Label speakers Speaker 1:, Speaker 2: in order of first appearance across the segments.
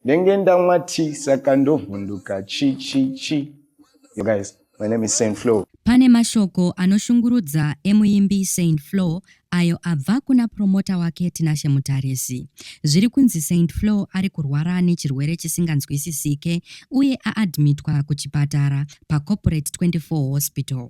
Speaker 1: Ndenge ndamwa tea saka ndovhunduka chi chi chi. You guys, my name is Saint Flo. Pane mashoko
Speaker 2: anoshungurudza emuimbi Saint Flo ayo abva kuna promota wake Tinashe Mutarisi. Zviri kunzi Saint Flo ari kurwara nechirwere chisinganzwisisike uye aadmitwa kuchipatara paCorporate 24 Hospital.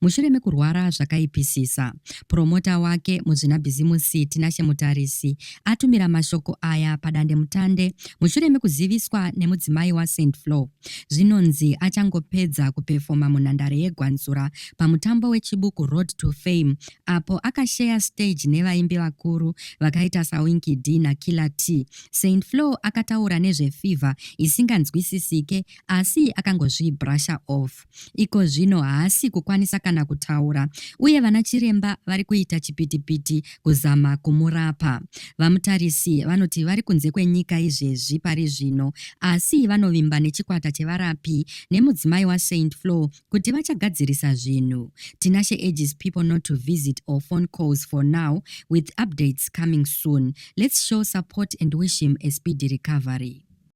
Speaker 2: mushure mekurwara zvakaipisisa. Puromota wake, muzvinabhizimusi Tinashe Mutarisi, atumira mashoko aya padandemutande mushure mekuziviswa nemudzimai waSaint Flo. Zvinonzi achangopedza kupefoma munhandare yeGwanzura pamutambo weChibuku Road to Fame apo akasheya stage nevaimbi vakuru vakaita saWinky D naKiller T. Saint Flo akataura nezvefever isinganzwisisike asi akangozvibrusher off. Iko zvino haasi kukwanisa kana kutaura uye vana chiremba vari kuita chipitipiti kuzama kumurapa. VaMutarisi vanoti vari kunze kwenyika izvezvi pari zvino asi vanovimba nechikwata chevarapi nemudzimai waSaint Flo kuti vachagadzirisa zvinhu. Tinashe urges people not to visit or phone calls for now with updates coming soon. Let's show support and wish him a speedy recovery.